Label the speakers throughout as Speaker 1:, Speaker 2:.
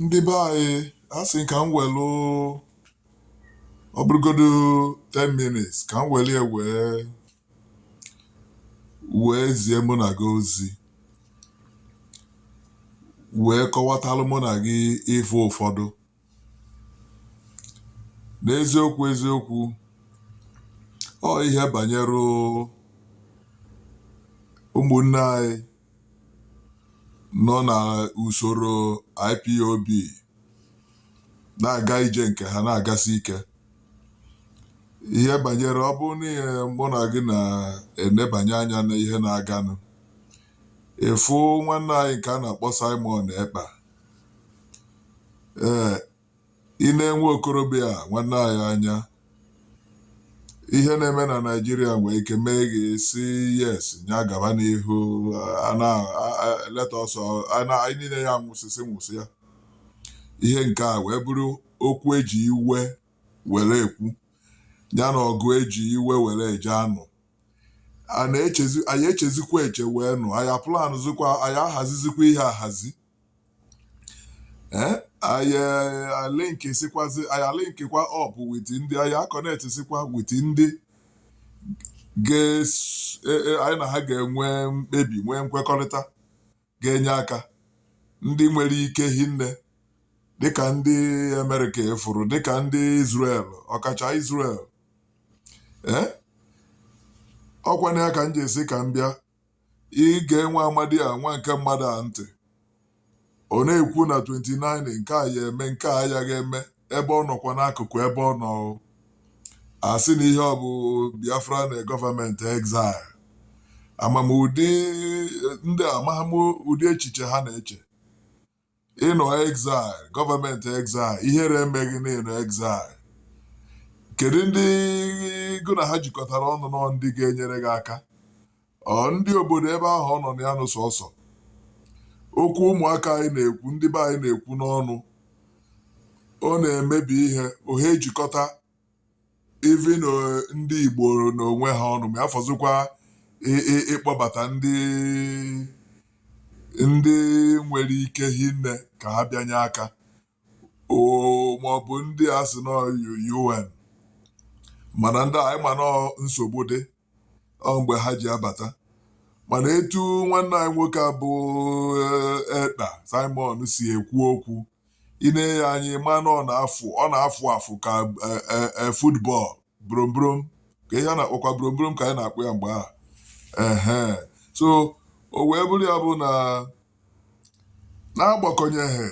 Speaker 1: ndị be anyị asị m ka m welụ ọ bụrụgodu 10 minutes ka m welụ ya wee wee zie mụ na gị ozi wee kọwatalụ mụ na gị ife ụfọdụ N'eziokwu eziokwu, ọ ihe banyere ụmụnne anyị nọ na usoro IPOB na-aga ije nke ha na-agasi ike. Ihe banyere ọ bụrụ na ihe mụ na gị na-enebanye anya n'ihe na-aganụ, ị fụ nwanne anyị nke a na-akpọ Simon Ekpa ee ị newe okorobịa a nwanne anyị anya ihe na-eme na Naịjirịa nwee ike mee gị sị yes nya gaba n'ihu a na a- a- let us all- a na anyị niile ya anwụsịsị nwụsịa ihe nke a wee bụrụ okwu eji iwe were ekwu ya na ọgụ eji iwe were eje anụ anyị echezi anyị echezikwa eche wee nụ anyị aplanụzikwa anyị ahazizikwa ihe ahazi ee anyị alinksikwazi anyị alinkikwa up with ndị anyị aconnectsikwa with ndị ga-es- e- e- anyị na ha ga-enwe mkpebi nwee nkwekọrịta ga-enye aka ndị nwere ike hinne dịka ndị Amerịka efuru dịka ndị Israel ọkacha Israel ee ọkwana ya ka m ji sị ka m bịa ige nwa amadi a nwa nke mmadụ a ntị ọ na-ekwu na 29 nke a ya eme nke a ya ga-eme ebe ọ nọkwa n'akụkụ ebe ọ nọ asị na ihe ọ bụ Biafra na government exile ama m ụdị ndị amagha m ụdị echiche ha na-eche ị nọ exile government exile ihere eme gị na ị nọ exile kedu ndị gụ na ha jikọtara ọnụ nọ ndị ga-enyere gị aka Ọ ndị obodo ebe ahụ ọ nọ na ya nụ sọsọ okwu ụmụaka anyị na-ekwu ndị be anyị na-ekwu n'ọnụ ọ na-emebi ihe ohe ejikọta even ndị Igbo n'onwe ha ọnụ ma afọzikwa ịkpọbata ndị ndị nwere ike hinne ka ha bịa nye aka oo maọbụ ndị a sị na UN mana ndị anyị ma na nsogbu dị ọ mgbe ha ji abata mana etu nwanne anyị nwoke a bụ eh, Ekpa Simon si ekwu okwu ị nee ya anya ị ma na ọ na-afụ ọ na-afụ afụ ka eh, eh, eh, football brombrom ka ihe a na-akpọkwa brombrom ka anyị na-akpọ ya mgbe ahụ ehe so o wee bụrụ ya bụ na n'agbakọnyeghị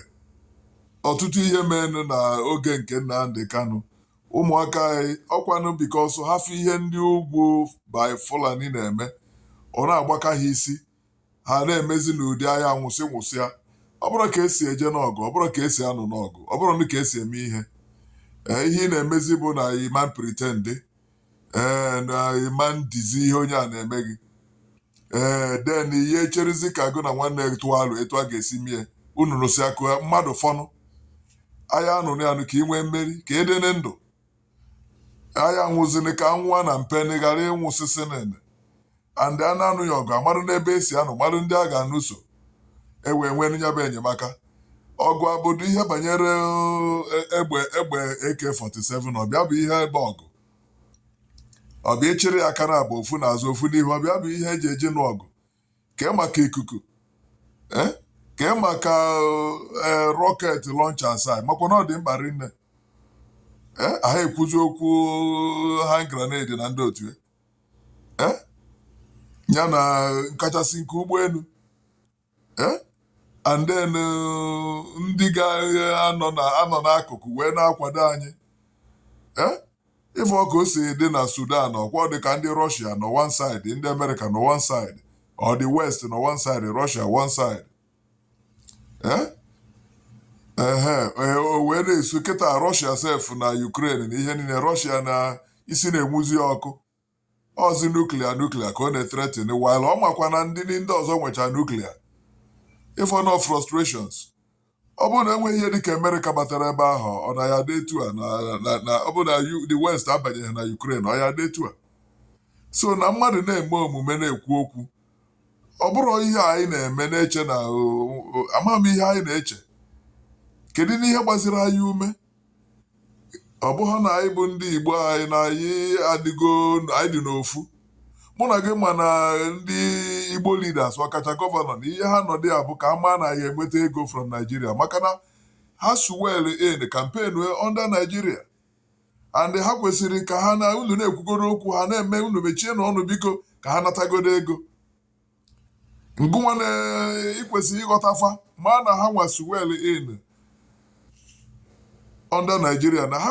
Speaker 1: ọtụtụ ihe meenụ na oge nke Nnamdi Kanu ụmụaka anyị ọkwanụ because ha fụ ihe ndị ugwu by Fulani na-eme ọ na-agbaka ha isi ha na-emezi n'ụdị a ya-anwụsị nwụsịa ọ bụrọ ka esi eje n'ọgụ ọ bụrọ ka esi anụ n'ọgụ ọ bụrọ ka esi eme ihe ee ihe ị na-emezi bụ na ị mana pretend ee na ị mana edizi ihe onye a na-eme gị ee then ihe echerizi ka gụ na nwanne gị tụọ alo etu a ga-esi mie unu nụsịa ka mmadụ fọnụ agha a na-anụ anụ ka ị nwee mmeri ka a dị na ndụ a ya-anwụzini ka a nwụwa na mpeni ghara ịnwụsịsị niine and a na-anụ ya ọgụ amarụ n'ebe esi anụ marụ ndị a ga-anụso e wee nwee ya bụ enyemaka ọgụ ọ bụdụ ihe banyere eh, egbe egbe AK47 ọ bụ ya bụ ihe bụ ọgụ ọ bụ ịchịrị ya aka naabọ ofu n'azụ ofu n'ihu ọ bụ ya bụ ihe eji eje n'ọgụ kee maka ikuku eh, kee maka eh, rocket launcher asaa makwa na ọ dị mkpa rinne eh, aha ekwuzi okwu hand grenade na ndị otu ya ya na nkachasị nke ụgbọenu and then ndị ga-anọ n'akụkụ wee na-akwado anyị Ị fụọ ka o si dị na Sudan ọkwa ọ dị ka ndị Russia nọ one side, ndị America nọ one side, or the West nọ one side, Russia one side. Eh? Ehe, ee, o wee na-esu kịta Russia sef na Ukraine na ihe niine Russia na isi na-enwuzi ọkụ Ọzi nuclear nuclear ka ọ na-ethreaten while ọ makwa na ndị ndị ọzọ nwecha nuclear. Ị fụnụ frustrations. Ọ bụrụ na enweghị ihe dịka America batara ebe ahụ, ọ na ya adị etu a na na na ọ bụrụ na U- the West abanyeghị na Ukraine, ọ ya adị etu a. So na mmadụ na-eme omume na-ekwu okwu, ọ bụrụ ihe anyị na-eme na-eche na o- o- amaghị m ihe anyị na-eche. Kedu n'ihe gbaziri anyị ume? ọ bụghị na anyị bụ ndị Igbo anyị na anyị adịgo anyị dị n'ofu mụ na gị ma na ndị Igbo leaders ọkacha gọvanọ na ihe ha nọdụ ya bụ ka a maa na anyị enweta ego from Nigeria maka na ha so welụ campaign under Nigeria and ha kwesịrị ka ha na unu na-ekwugodo okwu ha na-eme unu mechienụ ọnụ biko ka ha natagodo ego ngụnwa na ikwesịrị ịghọtafa ma na ha nwa as well in under naijiria na ha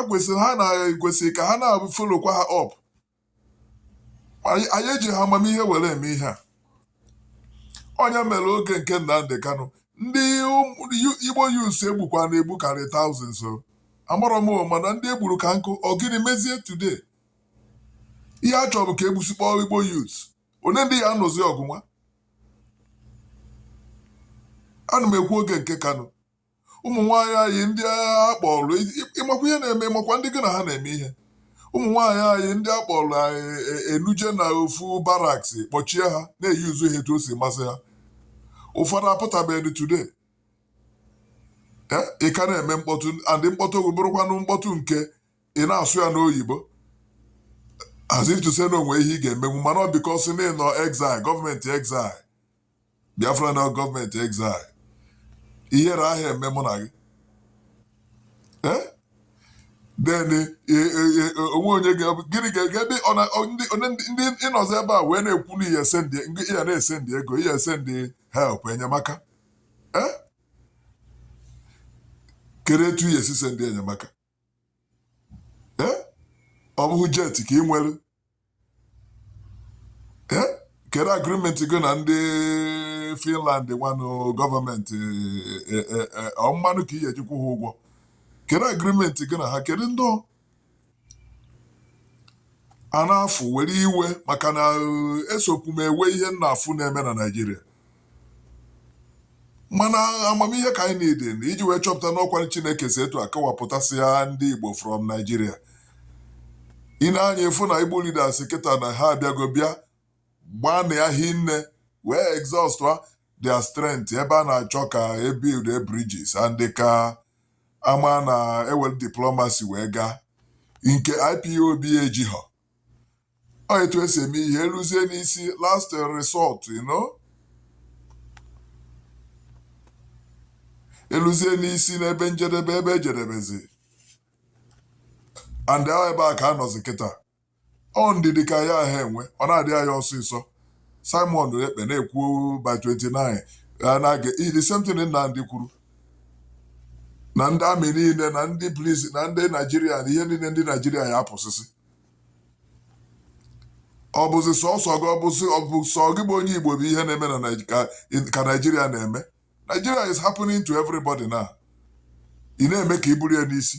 Speaker 1: na-ekwesịrị ka ha na-followkwa ha up anyị eji ha amamihe were eme ihe a onye mere oge nke Nnamdi Kanu ndị Igbo youths egbukwa na-egbu karị thousands o amarọ m mana ndị egburu ka nkụ ọ gịnị mezie today ihe a chọrọ bụ ka egbusikpọ Igbo youths onye ndị ya anụzi ọgụ nwa ana m ekwu oge nke Kanu ụmụ nwaanyị anyị ndị a kpọrọ ịmakwa ihe na-eme ịmakwa ndị gị na ha na-eme ihe ụmụ nwaanyị anyị ndị a kpọrọ enuje na ofu barracks kpọchie ha na-use ha etu o si masị ha ụfọdụ apụtabeghị today ị ka na-eme mkpọtụ and mkpọtụ ọ bịa bụrụkwanụ mkpọtụ nke ị na-asụ ya n'oyibo as if to say na onwe ihe ị ga-emenwu mana ọ because na ịnọ exile gọọmenti exile biafra na gọọmenti exile ihere aha eme mụ na gị then eh, eh, eh, onwe onye gịnị ga-ege ebe ndị ịnọzi ebe a wee na-ekwu na ị ga-esend ya na-esend ego ị ga-esend help enyemaka kedu etu ị ga-esi send enyemaka ee ọ bụghị jet ka ị nwere ee kedu agreement gị na ndị finland nwanụ gọọmenti e, e, e, ọ mmanụ ka ị ga-eji kwụ ha ụgwọ kedu agreement gị na ha kedu ndị ọ- a na-afụ were iwe maka na eh, esokwu m ewe ihe m na-afụ na-eme na naijiria mana amamihe ka anyị need iji wee chọpụta n'ọkwa chineke si etu a kọwapụtasịa ndị igbo from naijiria ị nee anya ị fụ na igbo leaders kịta na ha abịago bịa gbanịa hinne wee exhaust their strength ebe a na-achọ ka ebuildie bridges and ka ama na ewelu diplomacy wee gaa nke IPOB ejighọ ọ etu esi eme ihe eluzie n'isi last resort you know eluzie n'isi n'ebe njedebe ebe ejedebezi and ọ bụ ebe a ka a nọzi kịta ọ ndidi ka ya aha enwe ọ na-adị ya ọsịsọ Simon Ekpa na-ekwu by 29 na-aga the same thing Nnamdi kwuru na ndị army niile na ndị police na ndị naijiria na ihe niile ndị naijiria ya apụsịsị ọ bụzi sọsọ gị ọ bụzi ọ bụ sọ gị bụ onye igbo bụ ihe na-eme na Naij- ka- ka naijiria na-eme naijiria is happening to everybody now ị na-eme ka i buru ya n'isi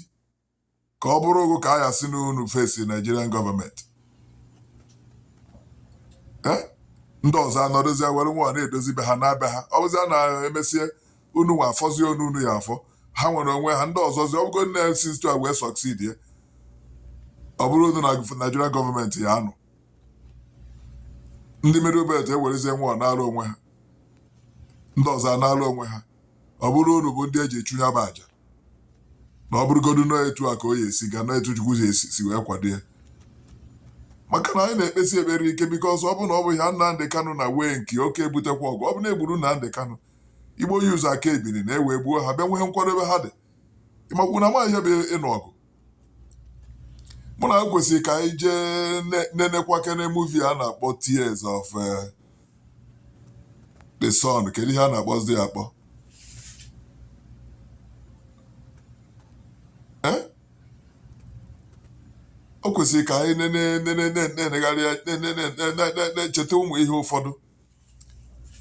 Speaker 1: ka ọ bụrụ ọgụ ka a ya-asị na unu face Nigerian gọọmenti Eh? ndị ọzọ anọdozie were nwa na-edozi be ha na be ha ọ bụzie na emesie unu nwa afọzie onu unu ya-afọ ha nwere onwe ha ndị ọzọzi ọ bụgo na esi etu a wee succeed ya ọ bụrụ unu na Nigerian gọọmenti ya-anụ ndị middle belt ewerezie nwa na-alụ onwe ha ndị ọzọ ana-alụ onwe ha ọ bụrụ unu bụ ndị eji achụ ya bụ aja na ọ bụrụgodu na ọ etu a ka ọ ya-esi ga na etu Chukwu si wee kwado ya maka na anyị na-ekpesi ekpere ike because ọ bụ na ọ bụ ya Nnamdị Kanụ na wee nke oke ebutekwa ọgụ ọ bụ na egburu Nnamdị Kanụ Igbo youths aka ebili n'iwe gbuo ha bịa nwee nkwadobe ha dị ịmakwu na amaghị ihe bụ ịnụ ọgụ mụ na o kwesịrị ka anyị jee nenekwakene movie a na-akpọ Tears of eh, the Sun kedu ihe a na-akpọzi ya akpọ Eh? o kwesịrị ka anyị na-enegharị na-echeta ụmụ ihe ụfọdụ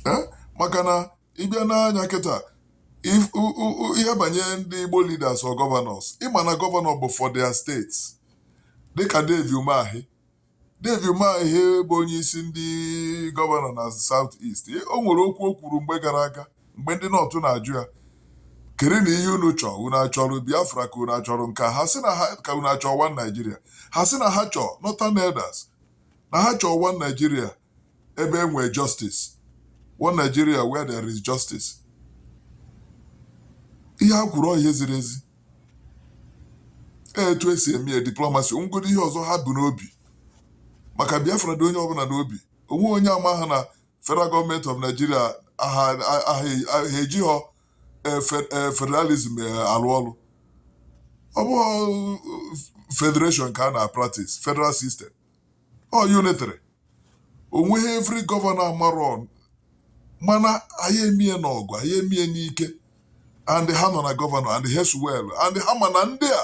Speaker 1: Eh? maka na ịbịa n'anya kịta if- u- u- u- ihe banyere ndị Igbo leaders or governors ịma na gọvanọ bụ for their states dịka Dave Umahi Dave Umahi bụ onye isi ndị gọvanọ na South East o nwere okwu o kwuru mgbe gara aga mgbe ndị North na-ajụ ya kere na ihe unu chọọ unu achọrọ Biafra ka unu achọrọ nke a? ha sị na ha ka unu achọọ one Nigeria ha sị na ha chọọ Northern Elders na ha chọọ one Nigeria ebe e nwee justice one Nigeria where there is justice ihe ha kwuru ọ ihe ziri ezi Ee, etu esi eme ya diplomacy ọ nwegodu ihe ọzọ ha bu n'obi maka Biafra dị onye ọbụla n'obi onweghị onye amahọ na federal gọọmenti of Nigeria ha ejihọ eh, fe- eh, federalism eh, alụ ọlụ ọ bụghị federation ka a na practice federal system ọ unitary onweghị every gọvanọ amarọ mana anyị emie n'ọgụ anyị emie n'ike and ha nọ na gọvanọ and as well and ha ma na ndị a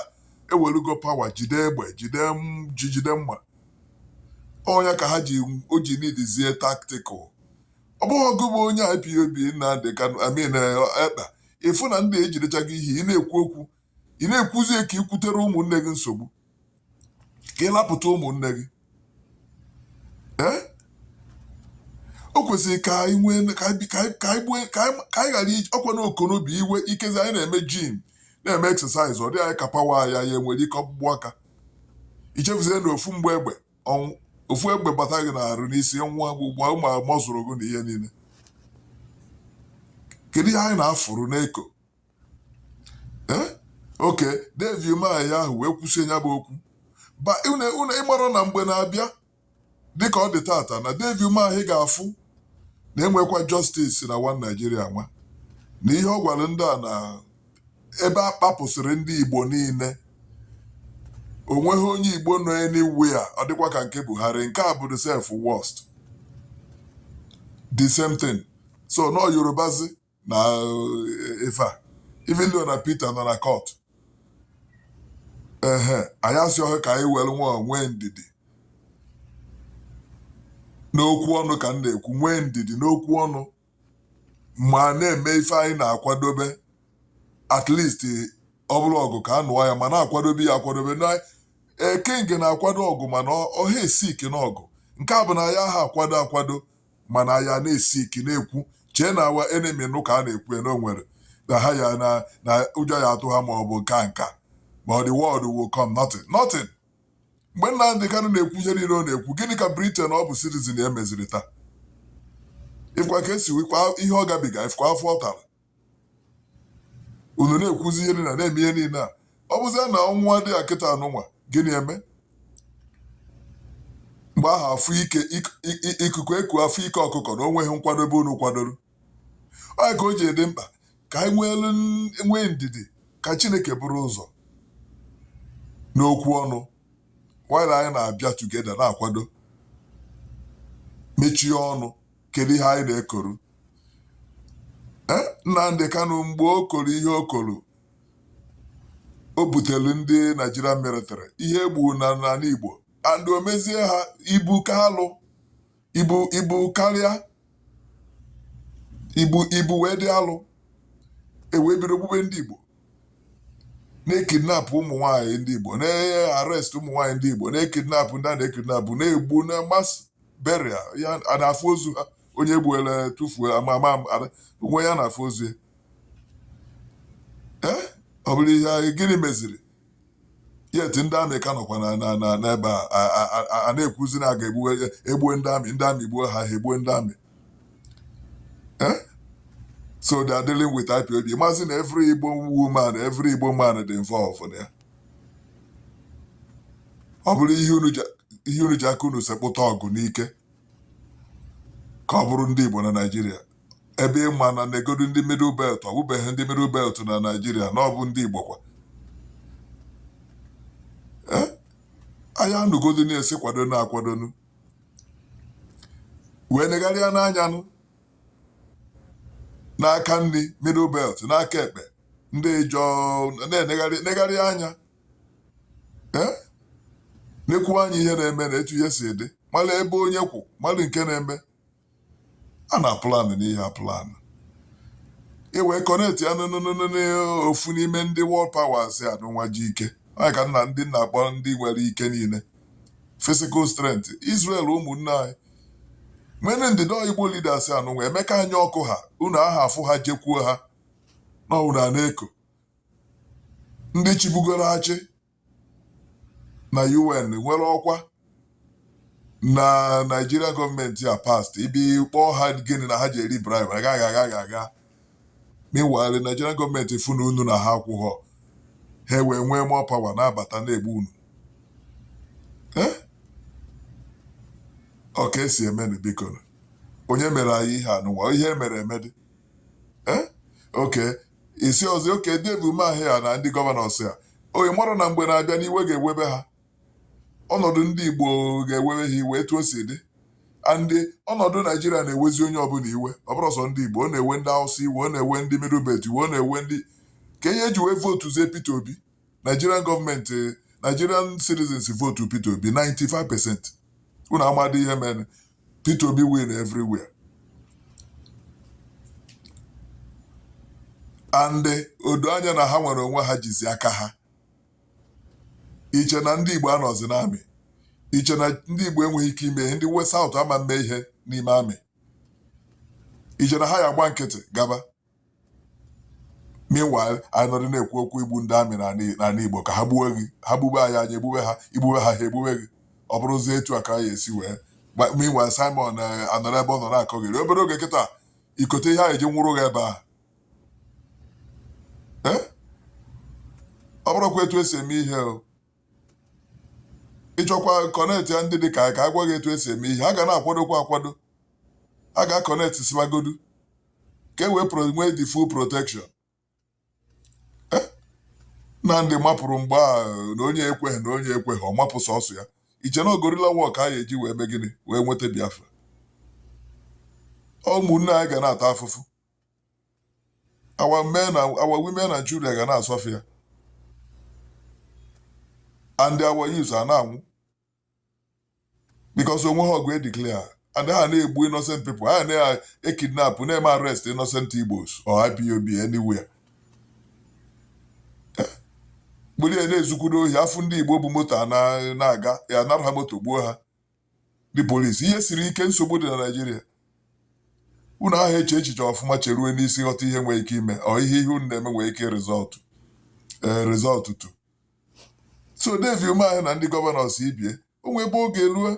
Speaker 1: ewelugo power jide egbe jide m- ji jide mma ọ nya ka ha ji o ji needizie tactical ọ bụghị gị bụ onye IPOB Nnamdị Kanụ Simon Ekpa ịfụ na ndị ejidechago ihe ị na-ekwu okwu ị na-ekwuzi ka ị kwutere ụmụnne gị nsogbu ka ị lapụta ụmụnne gị ee o kwesịrị ka anyị nwee ka anyị ghara iji ọkwa na ọkụ n'obi iwe ikezi anyị na-eme gym na-eme exercise ọ dị anyị ka power ya ya enwere ike ọkpụkpụ aka ichefuzie na ofu mgbọ egbe ọnwụ ofu egbe bata gị n'arụ n'isi nwa gbugba ụmụ muscle gị na ihe niile kedu ihe anyị na-afụrụ na-eko oke david umahi ahụ wee kwụsie ya bụ okwu ba unu unu ịmara na mgbe na-abịa dịka ọ dị tata na david umahi ga-afụ na enwekwa justice na one naijiria nwa na ihe ọ gwara ndị a na ebe a kpapụsịrị ndị igbo niile onweghị onye igbo nọ anywhere ọ dịkwa ka nke buhari nke a bụdu self worst the same thing so na ọ yorubazi na eh, ife a even though na Peter nọ na court ehe anyị asị ọ ka anyị were nwa nwee ndidi n'okwu ọnụ ka m na-ekwu nwee ndidi n'okwu ọnụ ma na-eme ife anyị na-akwadobe at least ọ bụrụ ọgụ ka a nụọ ya ma na-akwadobe ya akwadobe na ekenge na-akwado ọgụ mana ọ- ọha esi ike n'ọgụ nke a bụ na anyị aha akwado akwado mana anyị na-esi ike na-ekwu chee na our enemy nụ ka a na-ekwu ya na onwere na ha ya na na ụjọ ya-atụ ha ma ọ bụ nke a nka ma the world will come nothing nothing mgbe Nnamdị Kanụ na-ekwu ihe niile ọ na-ekwu gịnị ka Britain ọ bụ citizen ya meziri taa ifukwa ka esi wikwa ihe ọ gabiga ifukwa afụfụ ọ tara unu na-ekwuzi ihe niile na-eme ihe niile a ọ bụzie na ọnwụnwa dị ya kịta anụnwa gịnị eme mgbe ahụ afụ ike ikuku ekuo afụ ike ọkụkọ na onweghị nkwadobe unu kwadoro ọ nya ka o ji dị mkpa ka anyị nweelu nwee ndidi ka Chineke bụrụ ụzọ n'okwu ọnụ while anyị na-abịa together na-akwado mechie ọnụ kedu ihe anyị na-ekwuru e, Nnamdị Kanụ mgbe o kwuru ihe o kwuru o butere ndị Naijiria military ihe egbu na n'ala Igbo and o mezie ha ibu ka alụ ibu ibu karịa ibu ibu wee dị alụ ewee bido gbube ndị Igbo na-ekidnapụ ụmụ nwaanyị ndị Igbo na-arrest ụmụ nwaanyị ndị Igbo na-ekidnapụ ndị a na-ekidnapụ na-egbu na mass burial ya a na-afụ ozu ha onye gbuola tụfuo ama ama ama- onwe ya na-afụ ozu ya ee ọ bụrụ ihe anyị gịnị meziri yet ndị army ka nọkwa na na na n'ebe a a- a- a- a- a na-ekwuzi na a ga-egbuwe egbue ndị army ndị army gbuo ha ha egbue ndị army ee so they are dealing with IPOB maazị na every Igbo woman every Igbo man dị involved na ya ọ bụrụ ihe unu ji ihe unu ji aka unu sekpụta ọgụ n'ike ka ọ bụrụ ndị Igbo na Naịjirịa ebe ị ma na negodu ndị middle belt ọ bụbeghị ndị middle belt na Naịjirịa na ọ bụ ndị Igbo kwa Eh, anyị anụgodu na-asị kwadonu akwado unu wee negharịa n'anyanụ n'aka nri middle belt n'aka ekpe ndị ijọ na-enegharị anya eh? na-enekwu anya ihe na-eme na etu ihe si dị mara ebe onye kwụ mara nke na-eme a na planụ n'ihe planụ iwe kọneti ya n'ofu n'ime ndị World Powers anụwa ji ike onye ka nna ndị na-akpọ ndị nwere ike niile physical strength Israel ụmụnne anyị mene ndịda Igbo leaders anụnwa emeka anya ọkụ ha unu aha afụ ha jekwuo ha na unu a na-eko ndị chibugoro achị na UN nwere ọkwa na Naijiria gọọmenti a past ibi kpọọ ha gịnị na ha ji eri bribe agaghị agaghị aga meanwhile Naijiria gọọmenti fụ na unu na ha akwụghọ ha wee nwee more power na-abata na-egbu unu eh? ọ ka esi emenụ biko onye mere anyị ihe anụwa ihe e mere emedị eh? oke isi ọzọ oke Dave Umahi ya na ndị gọvanọs ya onye mara na mgbe na-abịa n'iwe ga-ewebe ha ọnọdụ ndị Igbo ga-ewebe ha iwe etu o si dị and ọnọdụ naijiria na-ewezi onye ọbụla iwe ọ bụrọ sọ ndị igbo ọ na-ewe ndị awụsa iwe ọ na-ewe ndị middle belt iwe ọ na-ewe ndị ka ihe eji wee vootu zie Peter Obi Nigerian gọọmenti Nigerian citizens votu Peter Obi 95 percent unu amadị ihe mere Peter Obi win everywhere and odo anya na ha nwere onwe ha jizi aka ha iche na ndị Igbo anọzi n'amị iche na ndị Igbo enweghị ike ime ihe ndị West South ama mme ihe n'ime amị iche na ha ya agba nkịtị gaba meanwhile anyị nọdụ na-ekwu okwu igbu ndị amị n'ala Igbo ka ha gbuwe gị ha gbube anyị anyị egbube ha igbube ha ha egbube gị ọ bụrụzie etu a ka anyị esi wee meanwhile Simon eh, anọrọ ebe ọ nọ na-akọgheri obere oge kịta ikote ihe anyị ji nwụrụ gị ebe ahụ eh? ọ bụrụkwa etu esi eme ihe o ịchọkwa kọnetị ya ndị dị ka anyị ka a gwa gị etu esi eme ihe a ga na-akwadokwa akwado a ga-akọnetị sibagodu ka e wee nwee the full protection eh? na ndị mapụrụ mgbe a na onye ekweghị na onye ekweghị ọ mapụ sọsọ ya iche na ọ guerrilla war ka a ga-eji wee mee gịnị wee nweta Biafra ụmụnne anyị ga na-ata afụfụ our women and children ga na-asọfa and our youth a na-anwụ because onweghị ọgụ edeclare and a na-egbu innocent people a na-ekidnap na-eme arrest innocent Igbos or IPOB anywhere gbulie na-ezukwudo ohi afụ ndị Igbo bu moto na-aga a nara ha moto gbuo ha ndị polisi ihe siri ike nsogbu dị na Naịjirịa unu aha eche echiche ọfụma cheruo n'isi ghọta ihe nwere ike ime ọ ihe ihe unu na-eme nwere ike rizọtụ eh, rizọtụ tu so Dave Umahi na ndị gọvanọs ibe ya o nwee ebe ọ ga-eruo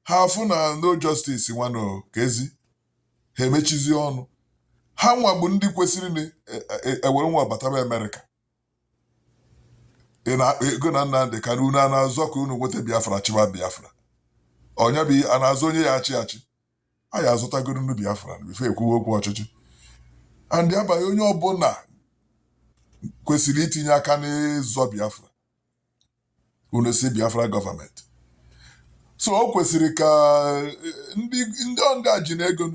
Speaker 1: ha afụ na no justice nwanụ ka ezi ha emechizie ọnụ ha nwa bụ ndị kwesịrị na e- e- ewere nwayọ bataba Amerịka ị na-akpa ego na Nnamdị Kanu unu a na-azọ ka unu nweta Biafra chịba Biafra ọ ya bụ a na-azọ onye ya-achị achị a ya-azọtagoro nụ Biafra before ekwuwe okwu ọchịchị and ya bụ onye ọbụla kwesịrị itinye aka n'ịzọ Biafra unu si Biafra gọọmenti so o kwesịrị ka eh, ndị ndị ọndị a ji na ego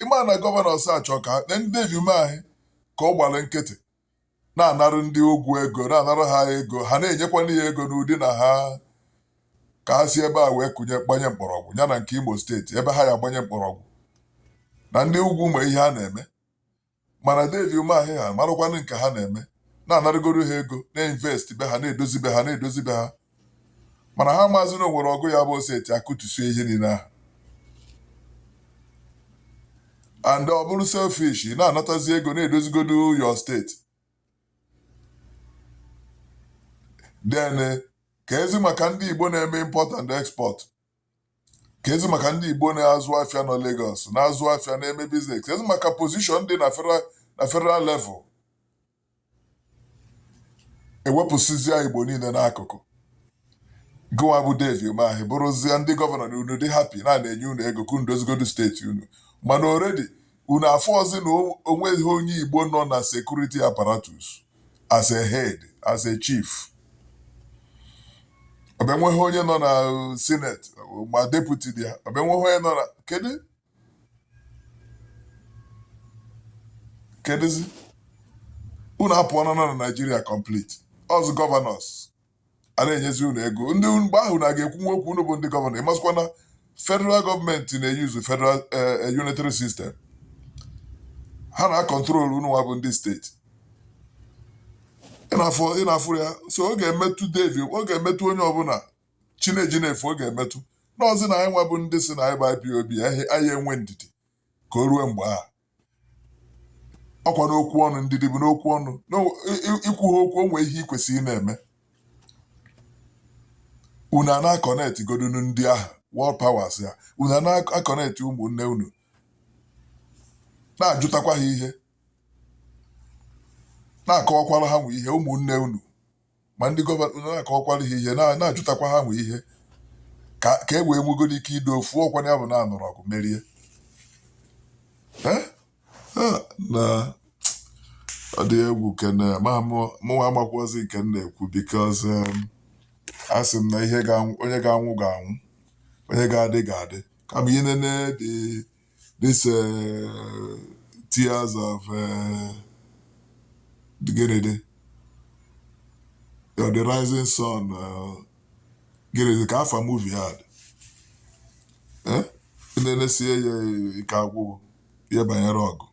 Speaker 1: ịma na gọvanọs achọ ka na ndị Dave Umahi ka ọ gbara nkịtị na-anara ndị ugwu ego na-anara ha ego ha na-enyekwanụ ha ego n'ụdị na ha ka ha si ebe a wee kụnye gbanye mkpọrọgwụ ya na nke Imo steeti ebe ha ya gbanye mkpọrọgwụ na ndị ugwu mee ihe ha na-eme mana Dave Umahi ha marakwanụ nke ha na-eme na-anarịgoro ha ego na-invest be ha na-edozi be ha na-edozi be ha mana ha amazi na o nwere ọgụ ya-abụ o seti akụtusie ihe niile ahụ and ọ bụrụ selfish ị na-anatazi ego na-edozigodo your steeti then kezi maka ndị Igbo na-eme import and export Kezi maka ndị Igbo na-azụ afịa nọ Lagos na-azụ afịa na-eme business kezi maka position dị na federal na federal level ewepụsịzịa Igbo niile n'akụkụ gụnwa bụ Dave Umahi bụrụzie ndị gọvanọ na unu dị happy na na-enye unu ego ka unu dozigodu steeti unu mana already unu afụọzi na onweghị onye Igbo nọ na security apparatus as a head as a chief ọbịa nweghị onye nọ na senate ma deputy dị ya ọbịa nweghị onye nọ na kedu kedụzi unu apụọla na Naịjirịa complete ọ sọ gọvanọs a na-enyezi unu ego ndị mgbe ahụ na ga-ekwu nwa okwu unu bụ ndị gọvanọ ịmasịkwa na federal gọọmenti na-eyuzu federal eh, eh, unitary system ha na-akọntrol unu nwa bụ ndị steeti ị na-afụrụ ya so ọ ga-emetụ Dave ọ ga-emetụ onye ọbụla chi na-eji na-efo ọ ga-emetụ n'ọzi na anyị nwa bụ ndị sị na anyị bụ IPOB anyị enwe ndidi ka o ruo mgbe ahụ ọkwa n'okwu ọnụ ndidi bụ n'okwu ọnụ ikwu ha okwu o nwe ihe ị kwesịrị na-eme unu a na-akọnetị godunu ndị ahụ world powers a unu a na-akọnetị ụmụnne unu na-ajụtakwa ha ihe na-akọwakwara ha nwa ihe ụmụnne unu ma ndị gọvanọ na-akọwakwara ha ihe na- na-ajụtakwa ha nwa ihe ka ka e wee nwegodu ike ido ofu ọkwanụ ya bụ na anụrụ ọgụ merie Eh? Ah, nna ọ dị egwu kene ma mụ- mụnwa amakwazi nke m na-ekwu because a sị m na ihe onye ga-anwụ ga-anwụ onye ga-adị ga-adị kama inene dị this uh, tears of uh, the gịnịdị, or the rising sun, uh, gịnịdị, ka afa movie ahụ dị. Eh? nenesie ya ike agwụ gị ihe banyere ọgụ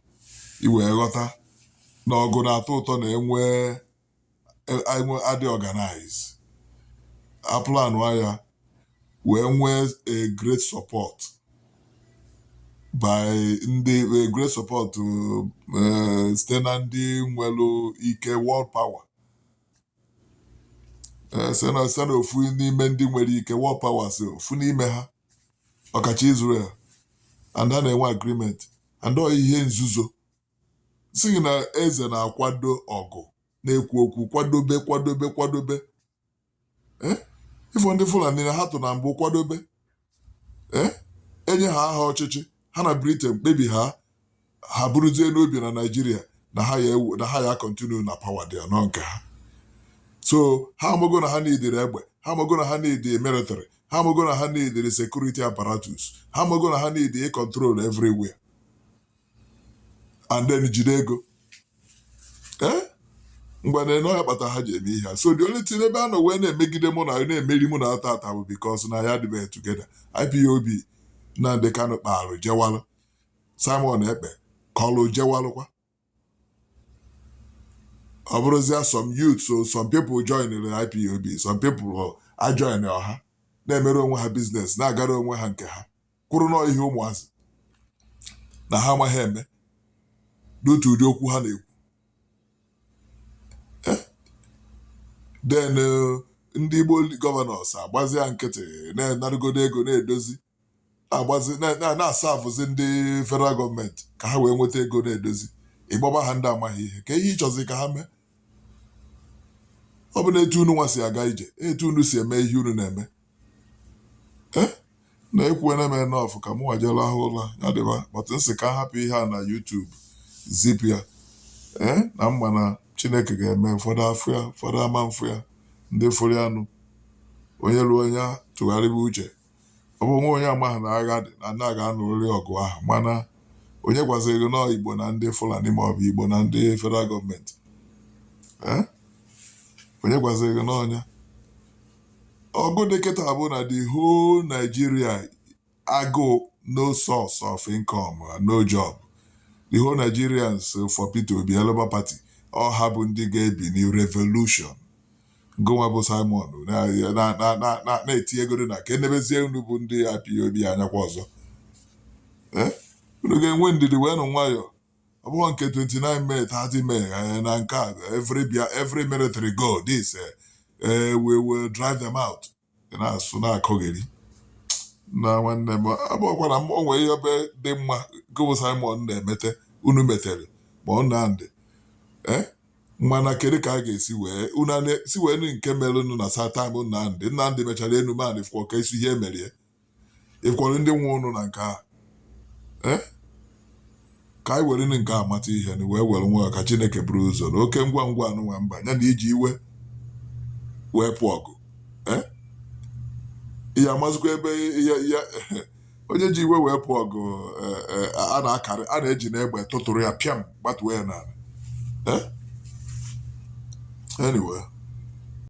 Speaker 1: i wee ghọta na ọgụ na-atọ ụtọ na enwee enwe adị organize aplanụ ya wee nwee a great support by ndị a great support eh, site na ndị nwere ike world power Eh, site na site na ofu n'ime ndị nwere ike world power si ofu n'ime ha ọkacha Israel and ha na-enwe agreement and ọ ihe nzuzo si na eze na-akwado ọgụ na-ekwu okwu kwadobe kwadobe kwadobe eh? ị fụ ndị Fulani na ha tụ na mbụ kwadobe eh? enye ha aha ọchịchị ha na Britain kpebi ha ha bụrụzie n'obi na Nigeria na ha ya ewu- na ha ya continue na power dị anọ nke ha so ha amago na ha neediri egbe ha amago na ha need military ha amago na ha neediri security apparatus ha amago na ha need control everywhere and then jide ego ee ngwanụ ọ ya kpata ha ji eme ihe a so the only thing ebe a nọ wee na-emegide mụ na na-emeri mụ na taata bụ because na anyị adịbeghị together IPOB Nnamdi Kanu kpaalụ jewalụ Simon Ekpa kọlụ jewalụkwa ọ bụrụzia some youth so some people join the IPOB some people ajoinọhọ na-emere onwe ha business na-agara onwe ha nke ha kwụrụ nọọ ihe ụmụazị na ha amaghị eme n'otu ụdị okwu ha na-ekwu eh, then eh, ndị Igbo gọvanọs agbazia nkịtị na-enarugodo ego na-edozi na-asavụzi ndị federal gọọmenti ka ha wee nweta ego na-edozi ịgbaba ha ndị amaghị ihe ka ihe ịchọzi ka ha mee ọ bụ na etu unu nwa si aga ije etu unu si eme ihe unu na-eme eh na ekwuwena m enough ka mụnwa jee rahụ ụra ya dịba but m sị ka m hapụ ihe a na YouTube zipụ ya ee na m ma na Chineke ga-eme ụfọdụ afụ ya ụfọdụ ama afụ ya ndị fụrụ ya nụ onye ruo onye tụgharịba uche ọ bụ nwa onye amaghị na agha dị na ndị a ga-anụrịrị ọgụ ahụ mana onye gwaziri gị na ọ Igbo na ndị Fulani ma ọ bụ Igbo na ndị federal gọọmenti ee onye gwaziri gị na ọ nya ọgụ dị kịta bụ na the whole Nigeria agụụ no source of income and no job the whole Nigerians for Peter Obi Labour Party ọ ha bụ ndị ga-ebili revolution gụnwa bụ Simon na- na- na- na- na- na-etinye ego na ka e nebezie unu bụ ndị IPOB anyakwa ọzọ Eh? unu ga-enwe ndidi wee nụ nwayọọ ọ bụghị nke 29 May 30 May eh, na nke a every bia every military go this eh, eh, we will drive them out Ị na-asụ na-akọgheri na nwanne m abụọkwara m o nwere ihe ebe dị mma gụ bụ Simon na-emete unu metere ma ọ na ndị eh, mana kedu ka a ga-esi wee unu a na- si wee nụ nke merenụ na satam Nnamdị Nnamdị mechara enume anị fụọ ka esi ihe emerie ịkwọrọ ndị nwe unu na nke a ee eh? ka anyị were nke a mata ihe na wee were nwayọ ka Chineke buru ụzọ na oke ngwa ngwa anụnwa mba ya na iji iwe wee pụọ ọgụ ee eh? ị ya amazikwa ebe ya onye ji iwe wee pụọ ọgụ eh, a na-akarị a na-eji n'egbe tụtụrụ ya pịam gbatuo ya n'ala anyway